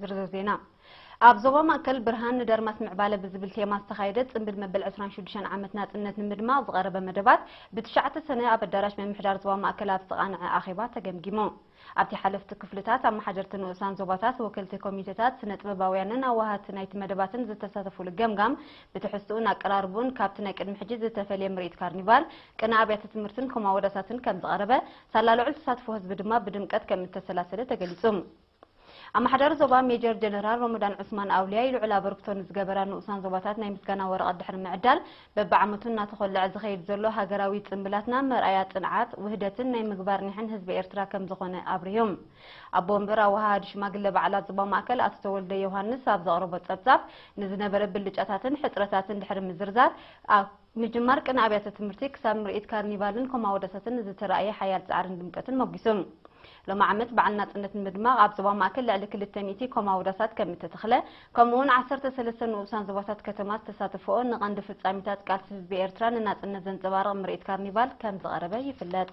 ዝርዝር ዜና ኣብ ዞባ ማእከል ብርሃን ንደርማስ ምዕባለ ብዝብል ቴማ ዝተኻየደ ጽምብል መበል ዕስራን ሽዱሽተን ዓመት ናጽነት ንምድማቕ ዝቐረበ መደባት ብትሽዓተ ሰነ ኣብ ኣዳራሽ ምምሕዳር ዞባ ማእከል ኣብ ዝተቓንዐ ኣኼባ ተገምጊሙ። ኣብቲ ሓለፍቲ ክፍልታት፣ ኣመሓደርቲ ንኡሳን ዞባታት፣ ወከልቲ ኮሚቴታት፣ ስነ-ጥበባውያንን ኣዋሃህቲ ናይቲ መደባትን ዝተሳተፉሉ ገምጋም ብትሕዝትኡን ኣቀራርብኡን ካብቲ ናይ ቅድሚ ሕጂ ዝተፈልየ ምርኢት ካርኒቫል፣ ቅነ ኣብያተ ትምህርትን ኮማወዳታትን ከምዝቐረበ ሳላ ልዑል ተሳትፎ ህዝቢ ድማ ብድምቀት ከም እተሰላሰለ ተገሊጹ። ኣመሓዳሪ ዞባ ሜጀር ጀነራል ሮሞዳን ዑስማን ኣውልያይ ልዑል ኣበርክቶ ንዝገበራ ንኡሳን ዞባታት ናይ ምስጋና ወረቐት ድሕሪ ምዕዳል፣ በብዓመቱ እናተኾለዐ ዝኸይድ ዘሎ ሃገራዊ ጽምብላትና መርኣያ ጽንዓት፣ ውህደትን ናይ ምግባር ኒሕን ህዝቢ ኤርትራ ከም ዝኾነ ኣብሪሁ። ኣቦ ወንበር ኣወሃሃዲ ሽማግለ በዓላት ዞባ ማእከል ኣቶ ተወልደ ዮውሃንስ ኣብ ዘቕረቦ ጸብጻብ፣ ንዝነበረ ብልጫታትን ሕጽረታትን ድሕሪ ምዝርዛር፣ ምጅማር ቅነ ኣብያተ ትምህርቲ ክሳብ ምርኢት ካርኒቫልን ኮማወደሰትን ንዝተራእየ ሓያል ጻዕርን ድምቀትን ሞጒሱ። ሎሚ ዓመት በዓል ናጽነት ንምድማቕ ኣብ ዞባ ማእከል ልዕሊ ክልተ ሚእቲ ኮማወዳሳት ከም እተተኽለ ከምኡ'ውን ዓሰርተ ሰለስተ ንኡሳን ዞባታት ከተማ ዝተሳተፍኦ ንቐንዲ ፍጻሚታት ቃልሲ ህዝቢ ኤርትራ ንናጽነት ዘንጸባርቕ ምርኢት ካርኒቫል ከም ዝቐረበ ይፍለጥ።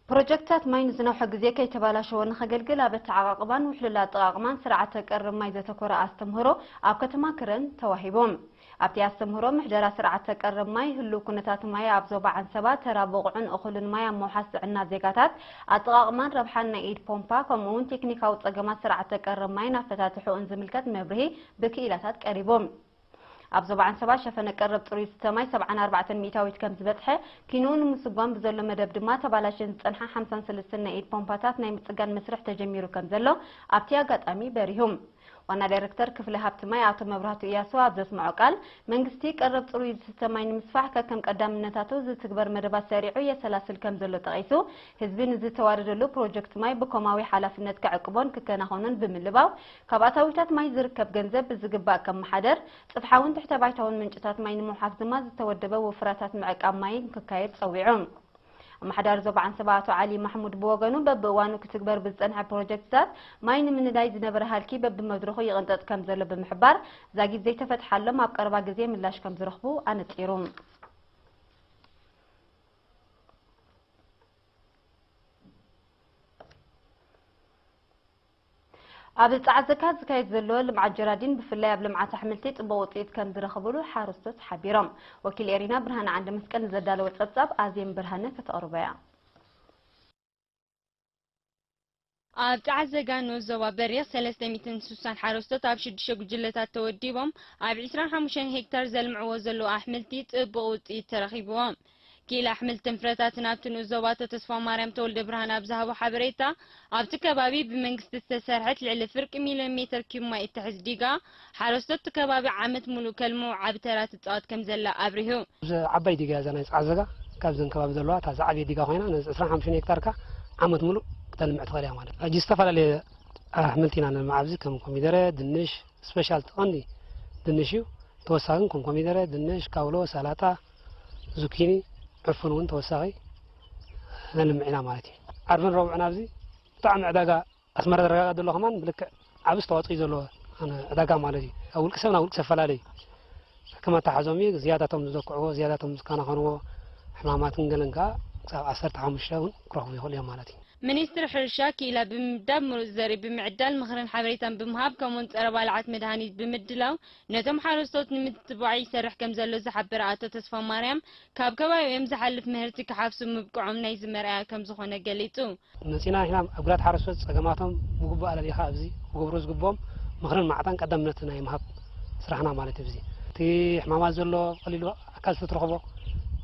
ፕሮጀክትታት ማይ ንዝነውሐ ግዜ ከይተባላሸወ ንኸገልግል ኣብ ኣተዓቓቕባን ውሕሉል ኣጠቓቕማን ስርዓተ ቀርብ ማይ ዘተኮረ ኣስተምህሮ ኣብ ከተማ ክረን ተዋሂቦም። ኣብቲ ኣስተምህሮ ምሕደራ ስርዓተ ቀረብ ማይ፣ ህሉው ኩነታት ማይ ኣብ ዞባ ዓንሰባ፣ ተራ ብቑዕን እኹልን ማይ ኣብ ምውሓስ ጥዕና ዜጋታት፣ ኣጠቓቕማን ረብሓን ናይ ኢድ ፖምፓ ከምኡ'ውን ቴክኒካዊ ጸገማት ስርዓተ ቀረብ ማይን ኣፈታትሕኡን ዝምልከት መብርሂ ብክኢላታት ቀሪቡ። ኣብ ዞባ ዓንሰባ ሸፈነ ቀረብ ጽሩይ ዝስተ ማይ ሰብዓን ኣርባዕተን ሚእታዊት ከምዝበጽሐ፣ ኪንኡ ንምስጓም ብዘሎ መደብ ድማ ተባላሽየን ዝጸንሓ ሓምሳን ሰለስተን ናይ ኢድ ፖምፓታት ናይ ምጽጋን መስርሕ ተጀሚሩ ከምዘሎ ኣብቲ ኣጋጣሚ በሪሁ። ዋና ዳይረክተር ክፍሊ ሃብቲ ማይ ኣቶ መብራህቱ ኢያሱ ኣብ ዘስመዖ ቃል፣ መንግስቲ ቀረብ ጽሩይ ዝስተ ማይ ንምስፋሕ ከከም ቀዳምነታቱ ዝትግበር መደባት ሰሪዑ የሰላስል ከምዘሎ ጠቒሱ፣ ህዝቢ ንዝተዋደደሉ ፕሮጀክት ማይ ብኮማዊ ሓላፍነት ክዕቅቦን ክከናኸኖን ብምልባው ካብ ኣታዊታት ማይ ዝርከብ ገንዘብ ብዝግባእ ከመሓደር፣ ጽፍሓውን ትሕተ-ባይታውን ምንጭታት ማይ ንምውሓስ ድማ ዝተወደበ ወፍራታት ምዕቃብ ማይ ንክካየድ ጸዊዑ። ኣመሓዳሪ ዞባ ዓንሰባ ኣቶ ዓሊ ማሕሙድ ብወገኑ በብእዋኑ ክትግበር ብዝፀንሐ ፕሮጀክትታት ማይ ንምንዳይ ዝነበረ ሃልኪ በቢመድረኹ ይቕንጠጥ ከምዘሎ ብምሕባር ዛጊት ዘይተፈትሓሎም ኣብ ቀረባ ግዜ ምላሽ ከምዝረኽቡ ኣነፂሩ። ኣብ ጸዓዘካ ዝካየድ ዘሎ ልምዓት ጀራዲን ብፍላይ ኣብ ልምዓት ኣሕምልቲ ጽቡቕ ውጽኢት ከምዝረኽብሉ ሓረስቶት ሓቢሮም። ወኪል ኤሪና ብርሃነ ዓንደመስቀል ንዘዳለዎ ጸብጻብ ኣዜም ብርሃነ ከተቕርቦ'ያ። ኣብ ጸዓዘጋ ንኡስ ዞባ በሪኽ ሰለስተ ሚእትን ስሳን ሓረስቶት ኣብ ሽዱሽተ ጉጅለታት ተወዲቦም ኣብ ዕስራን ሓሙሽተን ሄክታር ዘልምዕዎ ዘለዉ ኣሕምልቲ ጽቡቕ ውጽኢት ተረኺብዎም። ክኢላ ኣሕምልትን ፍረታትን ኣብቲ ንኡስ ዞባ ኣቶ ተስፋማርያም ተወልደብርሃን ኣብ ዝሃቦ ሓበሬታ፣ ኣብቲ ከባቢ ብመንግስቲ ዝተሰርሐት ልዕሊ ፍርቂ ሚልዮን ሜተር ኪዩብ ማይ እትሕዝ ዲጋ፣ ሓረስቶት እቲ ከባቢ ዓመት ሙሉእ ከልምዑ ዓቢ ተራ ትጻወት ከምዘላ ኣብሪሁ። እዛ ዓባይ ዲጋ እዛ ናይ ጸዓዘጋ ካብዘን ከባቢ ዘለዋ እታ ዝዓበየት ዲጋ ኮይና ነዚ ዕስራን ሓሙሽተን ሄክታር ከኣ ዓመት ሙሉእ ክተልምዕ ትኽእል እያ ማለት እዩ። ሕጂ ዝተፈላለየ ኣሕምልቲ ኢና ነልምዕ ኣብዚ ከም ኮሚደረ፣ ድንሽ፣ ስፐሻል እቲ ቀንዲ ድንሽ እዩ ተወሳኺ ግን ከም ኮሚደረ፣ ድንሽ፣ ካውሎ፣ ሰላጣ፣ ዙኪኒ፣ ዕፉን እውን ተወሳኺ ነልምዕ ኢና ማለት እዩ። ዓርብን ረቡዕን ኣብዚ ብጣዕሚ ዕዳጋ ኣስመራ ዝረጋገእ ዘሎ ከማን ብልክዕ ዓብ ዝተዋፅኦ እዩ ዘለዎ ዕዳጋ ማለት እዩ ካብ ውልቂ ሰብ ናብ ውልቂ ሰብ ፈላለ እዩ ከም ኣተሓዞም እዩ ዝያዳቶም ዝዘክዕዎ ዝያዳቶም ዝከናኸንዎ ሕማማትን ገለን ከዓ ክሳብ ዓሰርተ ሓሙሽተ እውን ክረኽቡ ይኽእሉ እዮም ማለት እዩ ሚኒስትሪ ሕርሻ ክኢላ ብምምዳብ፣ ምሩፅ ዘርኢ ብምዕዳል፣ ምኽርን ሓበሬታን ብምሃብ ከምኡውን ፀረ ባልዓት መድሃኒት ብምድላው ነቶም ሓረስቶት ንምትትባዕ ይሰርሕ ከምዘሎ ዝሓበረ ኣቶ ተስፋማርያም፣ ካብ ከባቢኦም ዝሓልፍ ምህርቲ ክሓፍሱ ምብቅዖም ናይዚ መርኣያ ከምዝኾነ ገሊፁ። መፂእና ኢና ኣብ ግራት ሓረስቶት ፀገማቶም ብግቡእ ኣለሊኻ ኣብዚ ክገብሩ ዝግብኦም ምኽርን ማዕጣን ቀዳምነት ናይ ምሃብ ስራሕና ማለት እዩ። ብዚ እቲ ሕማማት ዘሎ ብቐሊሉ ኣካል ስለትረኽቦ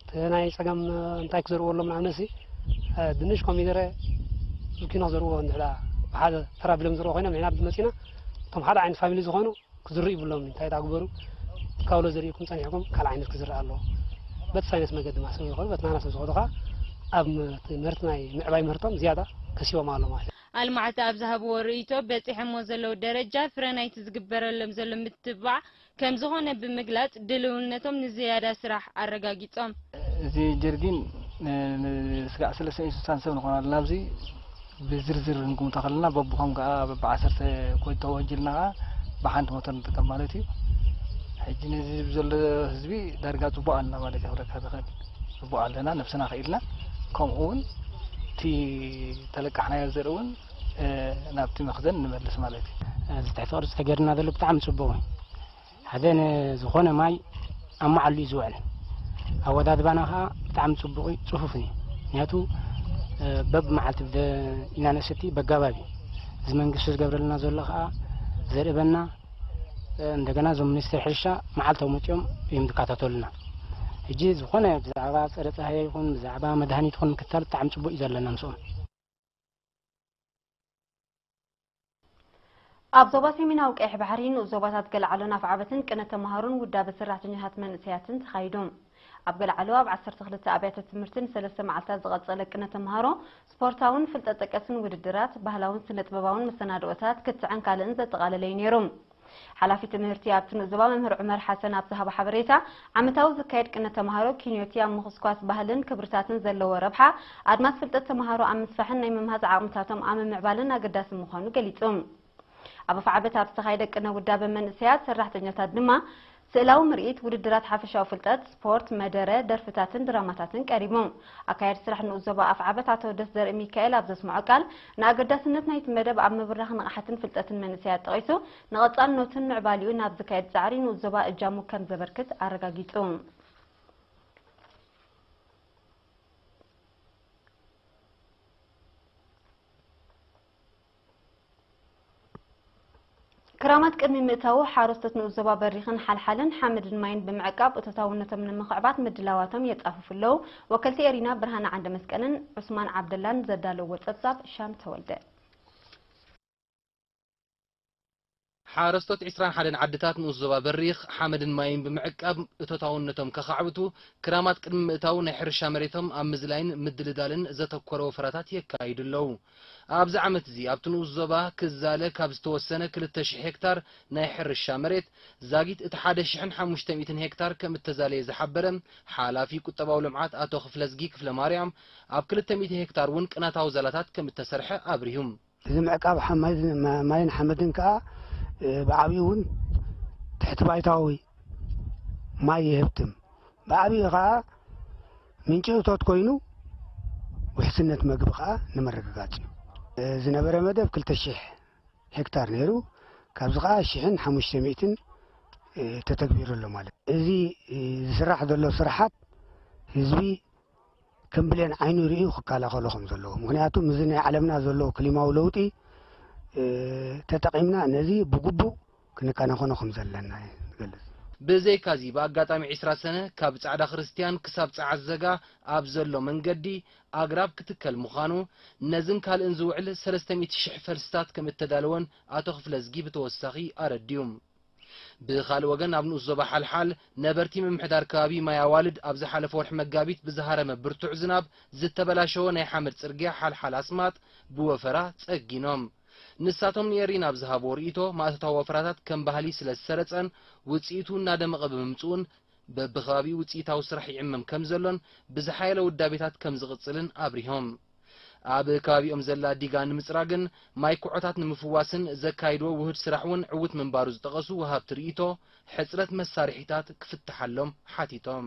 እቲ ናይ ፀገም እንታይ ክዘርዎ ኣሎም ንኣብነት እዚ ድንሽ ኮሚደረ ዙኪኖ ክዘርዎ እንድሕዳ ብሓደ ተራ ቢሎም ዝርዎ ኮይኖም ንሕና መፂእና እቶም ሓደ ዓይነት ፋሚሊ ዝኾኑ ክዝርኡ ይብሎም እዩ እንታይ ዳግበሩ ካውሎ ዘሪእኩም ጸኒሕኩም ካልእ ዓይነት ክዝርእ ኣለዎ በቲ ሳይነስ መገዲ ድማ ስለ ዝኾኑ በቲ ናና ስለ ዝኾኑ ከዓ ኣብ ምህርቲ ናይ ምዕባይ ምህርቶም ዝያዳ ከሲቦም ኣሎ ማለት እዩ ኣልማዕቲ ኣብ ዝሃብዎ ርእይቶ በጺሐሞ ዘለዉ ደረጃ ፍረ ናይቲ ዝግበረሎም ዘሎ ምትብባዕ ከም ዝኾነ ብምግላጽ ድልውነቶም ንዝያዳ ስራሕ ኣረጋጊጾም። እዚ ጀርዲን ንስጋዕ ሰለስተን ኢዩ ስሳን ሰብ ንኾን ኣለና ኣብዚ። ብዝርዝር ክንግምቶ ከለና በብኾም ከኣ በብዓሰርተ ኮይን ተወንጅልና ከኣ ብሓንቲ ሞተር ንጥቀም ማለት እዩ ሕጂ ነዚ ዘሎ ህዝቢ ዳርጋ ጽቡቅ ኣለና ማለት እዩ ክብለካ ዝኽእል ጽቡቅ ኣለና ነብስና ክኢልና ከምኡ እውን እቲ ተለቃሕናዮ ዘርኢ እውን ናብቲ መኽዘን ንመልስ ማለት እዩ እዚ ትሕቲ ቅርፂ ተገይርና ዘሎ ብጣዕሚ ፅቡቅ እዩ ሓደ ንዝኾነ ማይ ኣብ መዓሉ እዩ ዝውዕል። ኣወዳድባና ከዓ ብጣዕሚ ፅቡቕ እዩ፣ ፅፉፍን እዩ። ምክንያቱ በብ መዓልቲ ኢና ንእስቲ በጋባብ እዩ። እዚ መንግስቲ ዝገብረልና ዘሎ ከዓ ዘርእበና እንደገና እዞም ሚኒስትር ሕርሻ መዓልታዊ መፅኦም እዮም ዝከታተሉና። ሕጂ ዝኾነ ብዛዕባ ፀረ ፀሃየ ይኹን ብዛዕባ መድሃኒት ይኹን ምክትታል ብጣዕሚ ፅቡቅ እዩ ዘለና ምስኦም። ኣብ ዞባ ሰሜናዊ ቀይሕ ባሕሪ ንኡስ ዞባታት ገለዓሎን ኣፍዓበትን ቅነ ተምሃሮን ውዳበ ሰራሕተኛታት መንእሰያትን ተኻይዱ። ኣብ ገለዓሎ ኣብ ዓሰርተ ክልተ ኣብያተ ትምህርቲ ንሰለስተ መዓልታት ዝቐጸለ ቅነ ተምሃሮ ስፖርታውን ፍልጠት ጠቀስን ውድድራት፣ ባህላውን ስነ ጥበባውን መሰናድኦታት፣ ክትዕን ካልእን ዘጠቓለለ'ዩ ነይሩ። ሓላፊ ትምህርቲ ኣብቲ ምዝባ መምህር ዑመር ሓሰን ኣብ ዝሃቦ ሓበሬታ፣ ዓመታዊ ዝካየድ ቅነ ተማሃሮ ኪንዮ'ቲ ኣብ ምኹስኳስ ባህልን ክብርታትን ዘለዎ ረብሓ፣ ኣድማስ ፍልጠት ተማሃሮ ኣብ ምስፋሕን ናይ ምምሃዝ ዓቕምታቶም ኣብ ምምዕባልን ኣገዳሲ ምዃኑ ገሊጹ። ኣብ ኣፍዓበት ኣብ ዝተኻየደ ቅነ ውዳበ መንእሰያት ሰራሕተኛታት ድማ፣ ስእላዊ ምርኢት፣ ውድድራት ሓፈሻዊ ፍልጠት፣ ስፖርት፣ መደረ፣ ደርፍታትን ድራማታትን ቀሪቡ። ኣካያዲ ስራሕ ንኡስ ዞባ ኣፍዓበት ኣቶ ደስዘርኢ ሚካኤል ኣብ ዘስመዖ ቃል፣ ንኣገዳስነት ናይቲ መደብ ኣብ ምብራኽ ንቕሓትን ፍልጠትን መንእሰያት ጠቒሱ፣ ንቐጻልነቱን ምዕባሌኡን ኣብ ዝካየድ ጻዕሪ ንኡስ ዞባ እጃሙ ከም ዘበርክት ኣረጋጊጹ። ክራማት ቅድሚ ምእታዉ ሓረስቶት ንኡስ ዞባ በሪኽን ሓልሓልን ሓመድን ማይን ብምዕቃብ እቶታውነቶም ንምኽዕባት ምድላዋቶም የጻፍፉ ኣለዉ ወከልቲ ኤሪና ብርሃነ ዓንደመስቀልን ዑስማን ዓብደላን ዘዳለውዎ ጸብጻብ ሻም ተወልደ ሓረስቶት ዕስራን ሓደን ዓድታት ንኡስ ዞባ በሪኽ፣ ሓመድን ማይን ብምዕቃብ እቶታውነቶም ከኻዕብቱ፣ ክራማት ቅድሚ ምእታዉ ናይ ሕርሻ መሬቶም ኣብ ምዝላይን ምድልዳልን ዘተኮረ ወፈራታት የካይዱ ኣለዉ። ኣብዚ ዓመት'ዚ ኣብቲ ንኡስ ዞባ ክዛለ ካብ ዝተወሰነ ክልተ ሽሕ ሄክታር ናይ ሕርሻ መሬት፣ ዛጊት እቲ ሓደ ሽሕን ሓሙሽተ ሚእትን ሄክታር ከምእተዛለየ ዝሓበረ ሓላፊ ቁጠባዊ ልምዓት ኣቶ ክፍለዝጊ ክፍለማርያም፣ ኣብ ክልተ ሚእቲ ሄክታር'ውን ቅናታዊ ዛላታት ከምእተሰርሐ ኣብሪሁ። እዚ ምዕቃብ ማይን ሓመድን ከኣ ብዓብዩ እውን ትሕቲ ባይታዊ ማይ ይህብትም፣ ብዓብዩ ከኣ ምንጪ እቶት ኮይኑ ውሕስነት መግቢ ከኣ ንምርግጋጽ እዩ። ዝነበረ መደብ ክልተ ሽሕ ሄክታር ነይሩ፣ ካብዚ ከኣ ሽሕን ሓሙሽተ ሚእትን ተተግቢሩ ኣሎ ማለት እዩ። እዚ ዝስራሕ ዘሎ ስራሓት ህዝቢ ከም ብሌን ዓይኑ ርእዩ ክከላኸሎ ከም ዘለዎ ምክንያቱ ምዚ ናይ ዓለምና ዘሎ ክሊማዊ ለውጢ ተጠቒምና ነዚ ብግቡእ ክንከናኸኖ ከም ዘለና እየ ዝገልጽ። ብዘይካዚ ብኣጋጣሚ ዕስራ ሰነ ካብ ጻዕዳ ክርስትያን ክሳብ ጸዓት ዘጋ ኣብ ዘሎ መንገዲ ኣግራብ ክትከል ምዃኑ፣ ነዝን ካልእን ዝውዕል ሰለስተ ሚእቲ ሽሕ ፈልስታት ከም እተዳለወን ኣቶ ክፍለዝጊ ብተወሳኺ ኣረዲኡ። ብኻልእ ወገን ኣብ ንኡስ ዞባ ሓልሓል ነበርቲ ምምሕዳር ከባቢ ማይ ኣዋልድ ኣብ ዝሓለፈ ወርሒ መጋቢት ብዝሃረመ ብርቱዕ ዝናብ ዝተበላሸወ ናይ ሓመድ ጽርግያ ሓልሓል ኣስማጥ ብወፈራ ጸጊኖም። ንሳቶም ንኤሪ ናብ ዝሃብዎ ርእይቶ ማእቶታዊ ወፈራታት ከም ባህሊ ስለ ዝሰረጸን ውጽኢቱ እናደመቐ ብምምጽኡን በብከባቢኡ ውጽኢታዊ ስራሕ ይዕመም ከም ዘሎን ብዝሓየለ ውዳቤታት ከም ዝቕጽልን ኣብሪሆም። ኣብ ከባቢኦም ዘላ ዲጋ ንምፅራግን ማይ ኩዖታት ንምፍዋስን ዘካይድዎ ውሁድ ስራሕ እውን ዕውት ምንባሩ ዝጠቐሱ ወሃብቲ ርኢቶ፣ ሕፅረት መሳርሒታት ክፍተሓሎም ሓቲቶም።